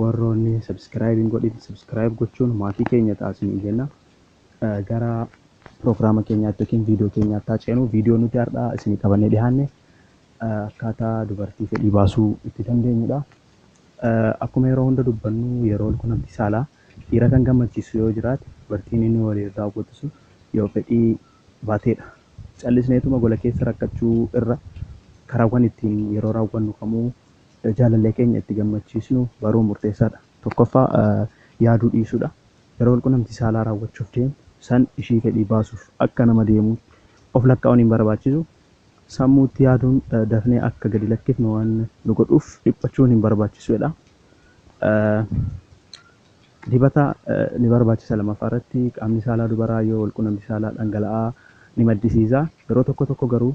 Warroonni subscribe hin godhin subscribe gochuun maatii keenya ta'a isiniin jenna. Eh, Gara piroogiraama keenyaatti yookiin viidiyoo keenyaatti haa ceenu. Viidiyoo nuti har'aa isinii qabannee dhiyaanne eh, akkaataa dubartii fedhii baasuu itti dandeenyudha. Eh, Akkuma yeroo hunda dubbannu yeroo qunnamtii saalaa dhiira kan gammachiisu yoo jiraate dubartiin inni waliin raawwatu sun yoo fedhii baateedha. Callisneetuma gola keessa rakkachuu irra karaawwan ittiin yeroo raawwannu kamuu Jaalallee keenya itti gammachiisnu baruun murteessaa dha. Tokkoffaa, yaaduu dhiisuu dha. Yeroo walqunnamtii saalaa raawwachuuf deemnu san ishii fedhii baasuuf akka nama deemuutti of lakkaa'uun hin barbaachisu. Sammuutti yaaduun dafnee akka gadi lakkifnu waan nu godhuuf dhiphachuun hin barbaachisu jedha. Dibata ni barbaachisa lammaffaa irratti. Qaamni saalaa dubaraa yoo walqunnamtii saalaa dhangala'aa ni maddisiisa. Yeroo tokko tokko garuu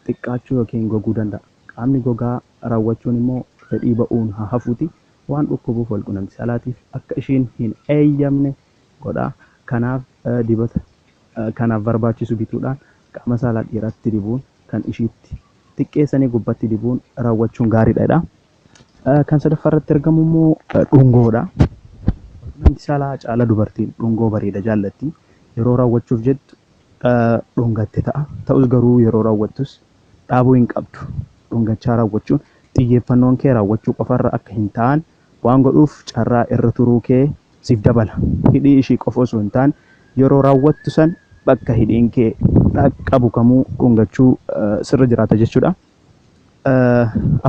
xiqqaachuu ykn goguu danda'a. Qaamni gogaa rawwachuun immoo fedhii ba'uun haa hafuutii waan dhukkubuuf walqunamti saalaatiif akka ishiin hin eeyyamne godha. Kanaaf dibata kanaaf barbaachisu bituudhaan qaama saalaa dhiiraatti dibuun kan ishiitti xiqqeessanii gubbatti dibuun rawwachuun gaariidha jedha. Kan sadaffaa irratti argamu immoo dhungoodha. Namni saalaa caala dubartiin dhungoo bareeda jaallatti. Yeroo raawwachuuf jettu dhungatte ta'a. Ta'us garuu yeroo raawwattus dhaabuu hin qabdu. Dhungachaa raawwachuun xiyyeeffannoon kee raawwachuu qofarra akka hin taane waan godhuuf carraa irra turuu kee siif dabala. Hidhii ishii qofa osoo hin taane yeroo raawwattu san bakka hidhiin kee dhaqqabu kamuu dhungachuu sirra jiraata jechuudha.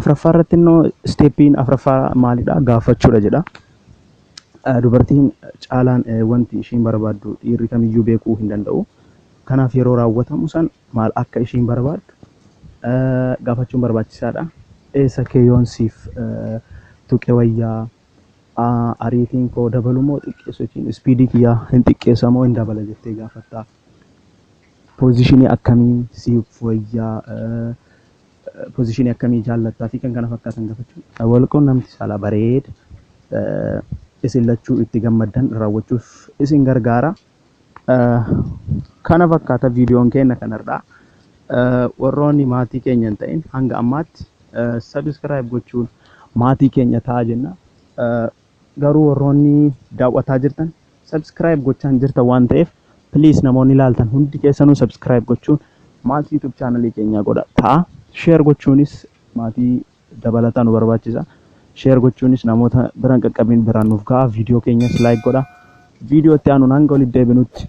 Afraffaa irratti immoo isteeppiin afraffaa maalidha? Gaafachuudha jedha. Dubartiin caalaan wanti ishiin barbaaddu dhiirri kamiyyuu beekuu hin danda'u. Kanaaf yeroo raawwatamu san maal akka ishiin barbaaddu gaafachuun barbaachisaadha. Eessa kee yoon siif tuqe wayyaa ariitiin koo dabalu moo xiqqeessu jechuun ispiidii kiyyaa hin xiqqeessa moo hin dabala jettee gaafatta. Pozishinii akkamii siif wayyaa, pozishinii akkamii jaallatta fi kan kana fakkaatan gaafachuu. Walqunnamti saalaa bareeda isin lachuu itti gammaddan raawwachuuf isin gargaara. Kana fakkaata viidiyoon keenya kanarraa. Warroonni maatii keenya hin ta'in hanga ammaatti sabiskiraayib gochuun maatii keenya ta'a jenna. Garuu warroonni daaw'ataa jirtan subscribe gochaa hin jirtan waan ta'eef please namoonni ilaaltan hundi keessanuu subscribe gochuun maatii YouTube channel keenyaa godha ta'a. Share gochuunis maatii dabalataa nu barbaachisa. Share gochuunis namoota biraan qaqqabiin biraan nuuf ga'a. Viidiyoo keenyas like godha. Viidiyoo itti aanuun hanga walitti deebinutti